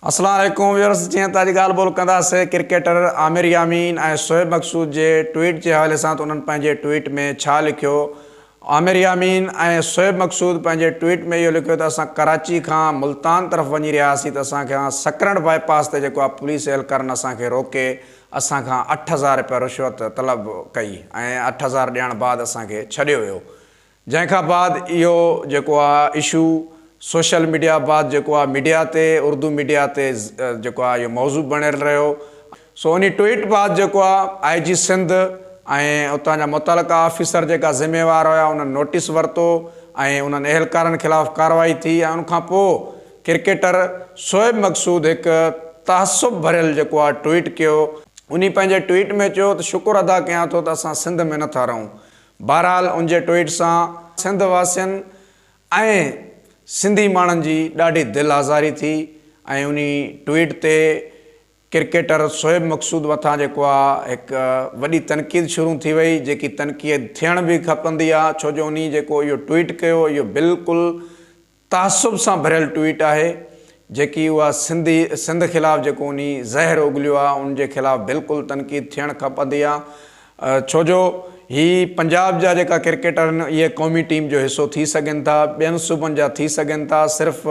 السلام عليڪم ويورز جيئن ته اڄ ڳالهه ٻولهه ڪنداسي ڪرڪيٽر عامر يامين ۽ شعيب مقصود جي ٽوئيٽ جي حوالي سان ته انهن پنهنجي ٽوئيٽ ۾ ڇا لکيو عامر يامين ۽ شعيب مقصود پنهنجي ٽوئيٽ ۾ اهو لکيو ته اسان ڪراچي کان ملتان طرف وڃي رهيا سين ته اسان کان سڪرنڊ بائي پاس تي جيڪو آ پوليس اهلڪارن اسان کي روڪي اسان کان اٺ هزار رپيا رشوت طلب ڪئي ۽ اٺ هزار ڏيڻ بعد اسان کي ڇڏيو ويو جنهن کان بعد اهو جيڪو آ اشو سوشل ميڊيا بعد جيڪو آ ميڊيا تي اردو ميڊيا تي جيڪو آ اهو موضوع بڻيل رهيو سو انهي ٽوئيٽ بعد جيڪو آ آئي جي سنڌ ۽ اتان جا متعلقه آفيسر جيڪا ذميوار هيا انهن نوٽيس ورتو ۽ انهن اهلڪارن خلاف ڪارروائي ٿي ۽ ان کان پو ڪرڪيٽر شعيب مقصود هڪ تعصب ڀريل جيڪو آ ٽوئيٽ ڪيو انهي پنهنجي ٽوئيٽ ۾ چيو ته شڪر ادا ڪيان ٿو ته اسان سنڌ ۾ نٿا رهون بهرحال ان جي ٽوئيٽ سان سنڌ واسين ۽ سنڌي ماڻهن جي ڏاڍي دل آزاري ٿي ۽ انهي ٽوئيٽ تي ڪرڪيٽر شعيب مقصود مٿان جيڪو آ هڪ وڏي تنقيد شرون ٿي وئي جيڪي تنقيد ٿيڻ به کپندي آ ڇو جو انهي جيڪو اهو ٽوئيٽ ڪيو اهو بلڪل تعصب سان ڀريل ٽوئيٽ آهي جيڪي اها سنڌي سنڌ خلاف جيڪو انهي زهر اگليو آ ان جي خلاف بلڪل تنقيد ٿيڻ کپندي آ ڇو جو هي پنجاب جا جيڪا ڪرڪيٽر آهن اهي قومي ٽيم جو حصو ٿي سگهن ٿا ٻين صوبن جا ٿي سگهن ٿا صرف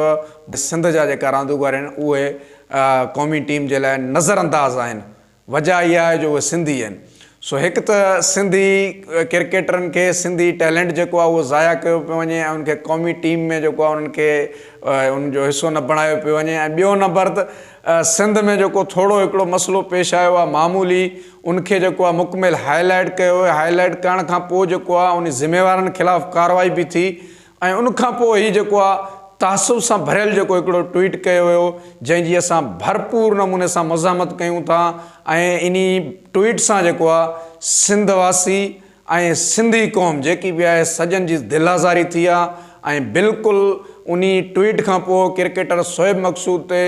سنڌ جا جيڪا راندوگر آهن اهي قومي ٽيم جي لاء نظر انداز آهن وجهه اها آهي جو اهي سنڌي آهن. سو هڪ ته سنڌي ڪرڪيٽرن کي سنڌي ٽيلنٽ جيڪو آهي اهو ضايع ڪيو پيو وڃي ۽ ان کي قومي ٽيم ۾ جيڪو آهي انهن کي ان جو حصو نه بڻايو پيو وڃي ۽ ٻيو نمبر ته سنڌ ۾ جيڪو ٿورو هڪڙو مسئلو پيش آيو آهي معمولي ان کي جيڪو آهي مڪمل هاء لائيٽ ڪيو ويو هاء لائيٽ ڪرڻ کان پوء جيڪو آهي ان ذميوارن خلاف ڪارروائي به ٿي ۽ ان کان پوء هي جيڪو آ تعصب سان ڀريل جيڪو هڪڙو ٽوئيٽ ڪيو ويو جنهن جي اسان ڀرپور نموني سان مزاحمت ڪيون ٿا ۽ انهي ٽوئيٽ سان جيڪو آ سنڌ واسي ۽ سنڌي قوم جيڪي به آهي سڄن جي دل آزاري ٿي آ ۽ بلڪل انهي ٽوئيٽ کان پوء ڪرڪيٽر شعيب مقصود تي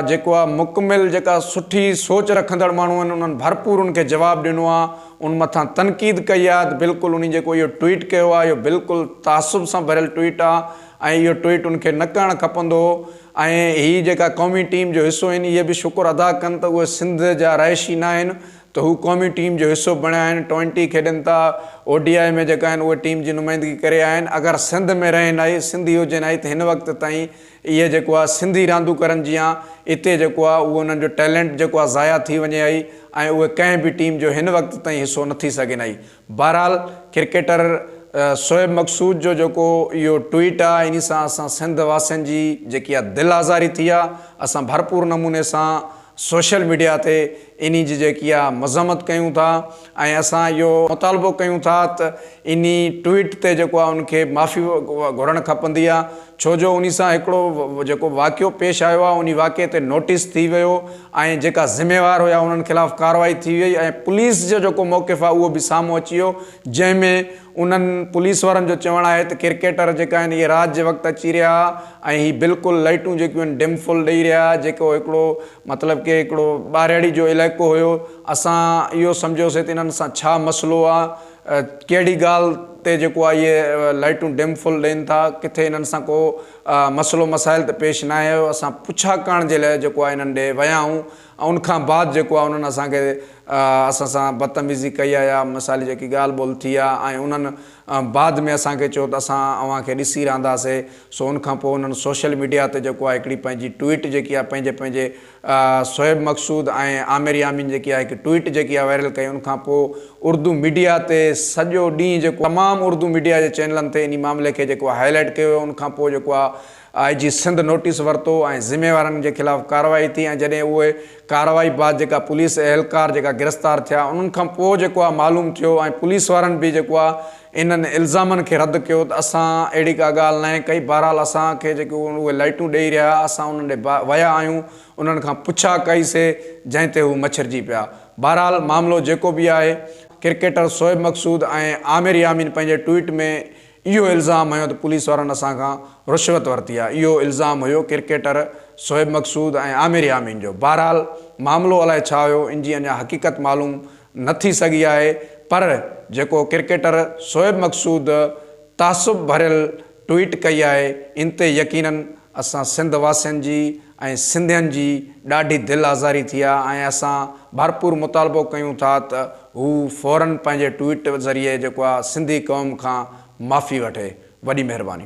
جيڪو آ مڪمل جيڪا سٺي سوچ رکندڙ ماڻهون آهن انهن ڀرپور ان کي جواب ڏنو آ ان مٿان تنقيد ڪئي آهي ته بلڪل انهي جيڪو اهو ٽوئيٽ ڪيو آهي اهو بلڪل تعصب سان ڀريل ٽوئيٽ آهي ۽ اهو ٽوئيٽ ان کي نه ڪرڻ کپندو هو ۽ هي جيڪا قومي ٽيم جو حصو آهن اهي به شڪر ادا ڪن ته اهي سنڌ جا رهائشي نه آهن ته هو قومي ٽيم جو حصو بڻيا آهن ٽوئنٽي کيڏن ٿا او ڊي آء ۾ جيڪا آهن اهي ٽيم جي نمائندگي ڪري آيا آهن اگر سنڌ ۾ رهن هائي سنڌي هجن هائي ته هن وقت تائين اهي جيڪو آ سنڌي راندوڪرن جيان اتي جيڪو آ اهو انهن جو ٽيلنٽ جيڪو آ ضايع ٿي وڃي هئي ۽ اهي ڪنهن به ٽيم جو هن وقت تائين حصو نه ٿي سگهين هئي بهرحال ڪرڪيٽر شعيب مقصود جو جيڪو اهو ٽوئيٽ آ انهي سان اسان سنڌ واسين جي جيڪي آ دل آزاري ٿي آ اسان ڀرپور نموني سان سوشل ميڊيا تي انهي جي جيڪي آ مذمت ڪيون ٿا ۽ اسان اهو مطالبو ڪيون ٿا ته انهي ٽوئيٽ تي جيڪو آ ان کي معافي گهرڻ کپندي آ ڇو جو انهي سان هڪڙو جيڪو واقعو پيش آيو آ انهي واقعي تي نوٽيس ٿي ويو ۽ جيڪا ذميوار هيا انهن خلاف ڪاروائي ٿي ويئي ۽ پوليس جو جيڪو موقف آ اهو به سامهون اچي ويو جنهن ۾ انهن پوليس وارن جو چوڻ آهي ته ڪرڪيٽر جيڪا آهن اهي رات جي وقت اچي رهيا ۽ هي بلڪل لئٽون جيڪيون آهن ڊم فل ڏئي رهيا جيڪو هڪڙو مطلب ڪي هڪڙو ٻارهڙي جو علائقو هيو اسان اهو سمجهيوسي ته انهن سان ڇا مسئلو آ ڪهڙي ڳالهه تي جيڪو آ اهي لئٽون ڊم فل ڏين ٿا ڪٿي انهن سان ڪو مسئلو مسائل ته پيش ناهي آيو اسان پڇا ڪرڻ جي لاء جيڪو آ انهن ڏي ويا آهون ۽ ان کان بعد جيڪو آهي انهن اسان کي اسان سان بدتميزي ڪئي آهي يا مثالي جيڪي ڳالهه ٻولهه ٿي آهي ۽ انهن بعد ۾ اسان کي چيو ته اسان اوهان کي ڏسي رهنداسي سو ان کان پوء انهن سوشل ميڊيا تي جيڪو آهي هڪڙي پنهنجي ٽوئيٽ جيڪي آهي پنهنجي پنهنجي شعيب مقصود ۽ عامر يامين جيڪي آهي هڪ ٽوئيٽ جيڪي آهي وائرل ڪئي ان کان پوء اردو ميڊيا تي سڄو ڏينهن جيڪو تمام اردو ميڊيا جي چينلن تي انهي معاملي کي جيڪو آهي هائي لائيٽ ڪيو ويو ان کان پوء جيڪو آهي آء جي سنڌ نوٽيس ورتو ۽ ذميوارن جي خلاف ڪارروائي ٿي ۽ جڏهن اهي ڪارروائي بعد جيڪا پوليس اهلڪار جيڪا گرفتار ٿيا انهن کان پوء جيڪو آ معلوم ٿيو ۽ پوليس وارن به جيڪو آ انهن الزامن کي رد ڪيو ته اسان اهڙي ڪا ڳالهه ناهي ڪئي بهرحال اسان کي جيڪي اهي لائيٽون ڏئي رهيا ها اسان انهن ڏي ويا آهيون انهن کان پڇا ڪئي سي جنهن تي هو مڇرجي پيا بهرحال معاملو جيڪو به آهي ڪرڪيٽر شعيب مقصود ۽ عامر يامين پنهنجي ٽوئيٽ ۾ اهو الزام هنيو ته پوليس وارن اسان کان رشوت ورتي آهي، اهو الزام هيو ڪرڪيٽر شعيب مقصود ۽ عامر يامين جو، بهرحال معاملو الائي ڇا هيو ان جي اڃا حقيقت معلوم نه ٿي سگهي آهي پر جيڪو ڪرڪيٽر شعيب مقصود تعصب ڀريل ٽوئيٽ ڪئي آهي ان تي يقينن اسان سنڌ واسين جي ۽ سنڌين جي ڏاڍي دل آزاري ٿي آهي ۽ اسان ڀرپور مطالبو ڪيون ٿا ته هو فورن پنهنجي ٽوئيٽ ذريعي جيڪو آهي سنڌي قوم کان معافي وٺي. وڏي مهرباني.